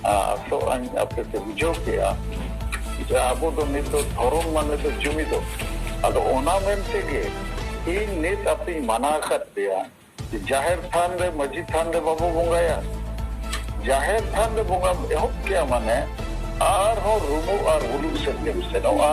ᱟᱥᱚᱜ ᱟᱹᱧ ᱟᱯᱮ ᱯᱮ ᱵᱩᱡᱷᱟᱹᱣ ᱠᱮᱜᱼᱟ ᱡᱮ ᱟᱵᱚ ᱫᱚ ᱱᱤᱛ ᱫᱚ ᱫᱷᱚᱨᱚᱢ ᱢᱟᱱᱮ ᱫᱚ ᱡᱩᱢᱤᱫᱚᱜ ᱟᱫᱚ ᱚᱱᱟ ᱢᱮᱱ ᱛᱮᱜᱮ ᱤᱧ ᱱᱤᱛ ᱟᱯᱮᱧ ᱢᱟᱱᱟ ᱟᱠᱟᱫ ᱯᱮᱭᱟ ᱡᱮ ᱡᱟᱦᱮᱨ ᱛᱷᱟᱱ ᱨᱮ ᱢᱟᱺᱡᱷᱤ ᱛᱷᱟᱱ ᱨᱮ ᱵᱟᱵᱚ ᱵᱚᱸᱜᱟᱭᱟ ᱡᱟᱦᱮᱨ ᱛᱷᱟᱱ ᱨᱮ ᱵᱚᱸᱜᱟᱢ ᱮᱦᱚᱵ ᱠᱮᱜᱼᱟ ᱢᱟᱱᱮ ᱟᱨᱦᱚᱸ ᱨᱩᱢᱩᱜ ᱟᱨ ᱦᱩᱞᱩᱜ ᱥᱮᱫ ᱜᱮᱢ ᱥᱮᱱᱚᱜᱼᱟ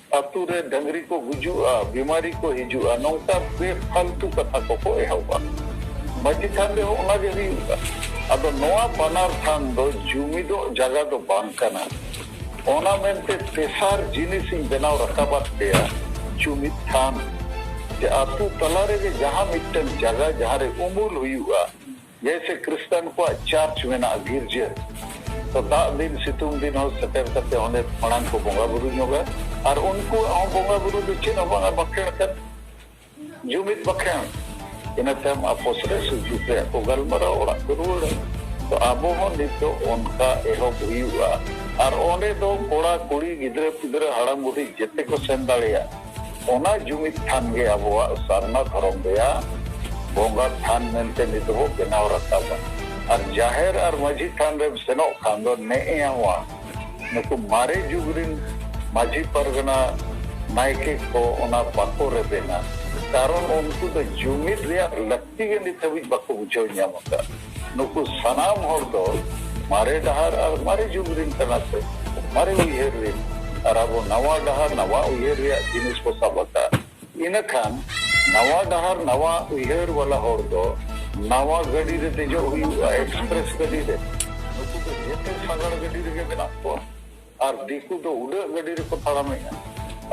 ᱟᱹᱛᱩ ᱨᱮ ᱰᱟᱹᱝᱨᱤ ᱠᱚ ᱜᱩᱡᱩᱜᱼᱟ, ᱵᱤᱢᱟᱨᱤ ᱠᱚ ᱦᱤᱡᱩᱜᱼᱟ ᱱᱚᱝᱠᱟ ᱵᱮᱯᱷᱟᱞᱛᱩ ᱠᱟᱛᱷᱟ ᱠᱚᱠᱚ ᱮᱦᱚᱵᱟ᱾ ᱢᱟᱹᱡᱷᱤ ᱛᱷᱟᱱ ᱨᱮᱦᱚᱸ ᱚᱱᱟ ᱜᱮ ᱦᱩᱭᱩᱜᱼᱟ᱾ ᱟᱫᱚ ᱱᱚᱣᱟ ᱵᱟᱱᱟᱨ ᱛᱷᱟᱱ ᱫᱚ ᱡᱩᱢᱤᱫᱚᱜ ᱡᱟᱜᱟ ᱫᱚ ᱵᱟᱝ ᱠᱟᱱᱟ᱾ ᱚᱱᱟ ᱢᱮᱱᱛᱮ ᱛᱮᱥᱟᱨ ᱡᱤᱱᱤᱥ ᱤᱧ ᱵᱮᱱᱟᱣ ᱨᱟᱠᱟᱵᱟᱫ ᱯᱮᱭᱟ ᱡᱩᱢᱤᱫ ᱛᱷᱟᱱ᱾ ᱡᱮ ᱟᱹᱛᱩ ᱛᱟᱞᱟ ᱨᱮᱜᱮ ᱡᱟᱦᱟᱸ ᱢᱤᱫᱴᱟᱹᱝ ᱡᱟᱜᱟ ᱡᱟᱦᱟᱸ ᱨᱮ ᱩᱢᱩᱞ ᱦᱩᱭᱩᱜᱼᱟ ᱡᱮᱭᱥᱮ ᱠᱨᱤᱥᱛᱟᱱ ᱠᱚᱣᱟᱜ ᱪᱟᱨᱪ ᱢᱮᱱᱟᱜᱼᱟ ᱜᱤᱨᱡᱟᱹ ᱛᱚ ᱫᱟᱜ ᱫᱤᱱ ᱥᱤᱛᱩᱝ ᱫᱤᱱ ᱦᱚᱸ ᱥᱮᱴᱮᱨ ᱠᱟᱛᱮ ᱚᱸᱰᱮ ᱢᱟᱲᱟᱝ ᱠᱚ ᱵᱚᱸᱜᱟ ᱵᱩᱨᱩ ᱧᱚᱜᱟ ᱟᱨ ᱩᱱᱠᱩᱣᱟᱜ ᱦᱚᱸ ᱵᱚᱸᱜᱟ ᱵᱩᱨᱩ ᱫᱚ ᱪᱮᱫ ᱦᱚᱸ ᱵᱟᱝᱟ ᱵᱟᱠᱷᱮᱬ ᱠᱟᱱ ᱡᱩᱢᱤᱫ ᱵᱟᱠᱷᱮᱬ ᱤᱱᱟᱹ ᱛᱟᱭᱚᱢ ᱟᱯᱚᱥ ᱨᱮ ᱥᱩᱠ ᱫᱩᱠ ᱨᱮᱭᱟᱜ ᱠᱚ ᱜᱟᱞᱢᱟᱨᱟᱣ ᱚᱲᱟᱜ ᱠᱚ ᱨᱩᱣᱟᱹᱲᱟ ᱛᱚ ᱟᱵᱚ ᱦᱚᱸ ᱱᱤᱛ ᱫᱚ ᱚᱱᱠᱟ ᱮᱦᱚᱵ ᱦᱩᱭᱩᱜᱼᱟ ᱟᱨ ᱚᱸᱰᱮ ᱫᱚ ᱠᱚᱲᱟ ᱠᱩᱲᱤ ᱜᱤᱫᱽᱨᱟᱹ ᱯᱤᱫᱽᱨᱟᱹ ᱦᱟᱲᱟᱢ ᱵᱩᱰᱷᱤ ᱡᱮᱛᱮ ᱠᱚ ᱥᱮᱱ ᱫᱟᱲᱮᱭᱟᱜᱼᱟ ᱚᱱᱟ ᱡᱩᱢᱤᱫ ᱛᱷᱟᱱ ᱜᱮ ᱟᱵᱚᱣᱟᱜ ᱥᱟᱨᱱᱟ ᱫᱷᱚᱨᱚᱢ ᱨᱮᱭᱟᱜ ᱵᱚᱸᱜᱟ ᱛᱷᱟᱱ ᱢᱮᱱᱛᱮ ᱱᱤᱛ ᱵᱚ ᱵᱮᱱᱟᱣ ᱨᱟᱠᱟᱵᱟ ᱟᱨ ᱡᱟᱦᱮᱨ ᱟᱨ ᱢᱟᱹᱡᱷᱤ ᱛᱷᱟᱱ ᱨᱮᱢ ᱥᱮᱱᱚᱜ ᱠᱷᱟᱱ ᱫᱚ ᱱᱮᱜᱼᱮᱣᱟ ᱱᱩᱠᱩ ᱢᱟᱨᱮ ᱡᱩᱜᱽ ᱨᱤᱱ ᱢᱟᱹᱡᱷᱤ ᱯᱟᱨᱜᱟᱱᱟ ᱱᱟᱭᱠᱮ ᱠᱚ ᱚᱱᱟ ᱵᱟᱠᱚ ᱨᱮᱵᱮᱱᱟ ᱠᱟᱨᱚᱱ ᱩᱱᱠᱩ ᱫᱚ ᱡᱩᱢᱤᱫ ᱨᱮᱭᱟᱜ ᱞᱟᱹᱠᱛᱤ ᱜᱮ ᱱᱤᱛ ᱦᱟᱹᱵᱤᱡ ᱵᱟᱠᱚ ᱵᱩᱡᱷᱟᱹᱣ ᱧᱟᱢ ᱟᱠᱟᱫᱼᱟ ᱱᱩᱠᱩ ᱥᱟᱱᱟᱢ ᱦᱚᱲ ᱫᱚ ᱢᱟᱨᱮ ᱰᱟᱦᱟᱨ ᱟᱨ ᱢᱟᱨᱮ ᱡᱩᱜᱽ ᱨᱤᱱ ᱠᱟᱱᱟ ᱠᱚ ᱢᱟᱨᱮ ᱩᱭᱦᱟᱹᱨ ᱨᱤᱱ ᱟᱨ ᱟᱵᱚ ᱱᱟᱣᱟ ᱰᱟᱦᱟᱨ ᱱᱟᱣᱟ ᱩᱭᱦᱟᱹᱨ ᱨᱮᱭᱟᱜ ᱡᱤᱱᱤᱥ ᱵᱚ ᱥᱟᱵ ᱟᱠᱟᱫ ᱤᱱᱟᱹ ᱠᱷᱟᱱ ᱱᱟᱣᱟ ᱰᱟᱦᱟᱨ ᱱᱟᱣᱟ ᱩᱭᱦᱟᱹᱨ ᱵᱟᱞᱟ ᱦᱚᱲ ᱫᱚ ᱱᱟᱣᱟ ᱜᱟᱹᱰᱤ ᱨᱮ ᱫᱮᱡᱚᱜ ᱦᱩᱭᱩᱜᱼᱟ ᱮᱠᱥᱯᱨᱮᱥ ᱜᱟᱹᱰᱤ ᱨᱮ ᱱᱩᱠᱩ ᱫᱚ ᱡᱮᱛᱮ ᱥᱟᱜᱟᱲ ᱜᱟᱹᱰᱤ ᱨᱮᱜᱮ ᱢᱮᱱᱟᱜ ᱠᱚᱣᱟ ᱟᱨ ᱫᱤᱠᱩ ᱫᱚ ᱩᱰᱟᱹᱜ ᱜᱟᱹᱰᱤ ᱨᱮᱠᱚ ᱛᱟᱲᱟᱢᱮᱜᱼᱟ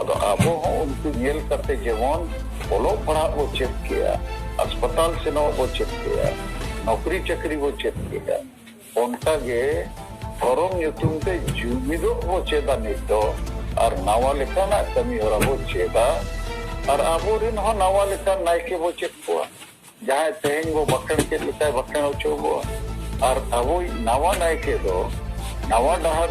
ᱟᱫᱚ ᱟᱵᱚ ᱦᱚᱸ ᱩᱱᱠᱩ ᱧᱮᱞ ᱠᱟᱛᱮ ᱡᱮᱢᱚᱱ ᱚᱞᱚᱜ ᱯᱟᱲᱦᱟᱜ ᱵᱚ ᱪᱮᱫ ᱠᱮᱜᱼᱟ ᱦᱟᱥᱯᱟᱛᱟᱞ ᱥᱮᱱᱚᱜ ᱵᱚ ᱪᱮᱫ ᱠᱮᱜᱼᱟ ᱱᱚᱠᱨᱤ ᱪᱟᱹᱠᱨᱤ ᱵᱚ ᱪᱮᱫ ᱠᱮᱜᱼᱟ ᱚᱱᱠᱟ ᱜᱮ ᱫᱷᱚᱨᱚᱢ ᱧᱩᱛᱩᱢ ᱛᱮ ᱡᱩᱢᱤᱫᱚᱜ ᱵᱚ ᱪᱮᱫᱟ ᱱᱤᱛ ᱫᱚ ᱟᱨ ᱱᱟᱣᱟ ᱞᱮᱠᱟᱱᱟᱜ ᱠᱟᱹᱢᱤ ᱦᱚᱨᱟ ᱵᱚ ᱪᱮᱫᱟ ᱟᱨ ᱟᱵᱚ ᱨᱮᱱ ᱦᱚᱸ ᱱᱟᱣᱟ ᱞᱮᱠᱟᱱ ᱱᱟᱭᱠᱮ ᱵᱚ ᱪᱮᱫ ᱠᱚᱣᱟ ᱡᱟᱦᱟᱸᱭ ᱛᱮᱦᱮᱧ ᱵᱚ ᱵᱟᱠᱷᱮᱬ ᱠᱮᱫ ᱞᱮᱠᱟᱭ ᱵᱟᱠᱷᱮᱬ ᱦᱚᱪᱚ ᱵᱚᱣᱟ ᱟᱨ ᱟᱵᱚᱭᱤᱡ ᱱᱟᱣᱟ ᱱᱟᱭᱠᱮ ᱫᱚ ᱱᱟᱣᱟ ᱰᱟᱦᱟᱨ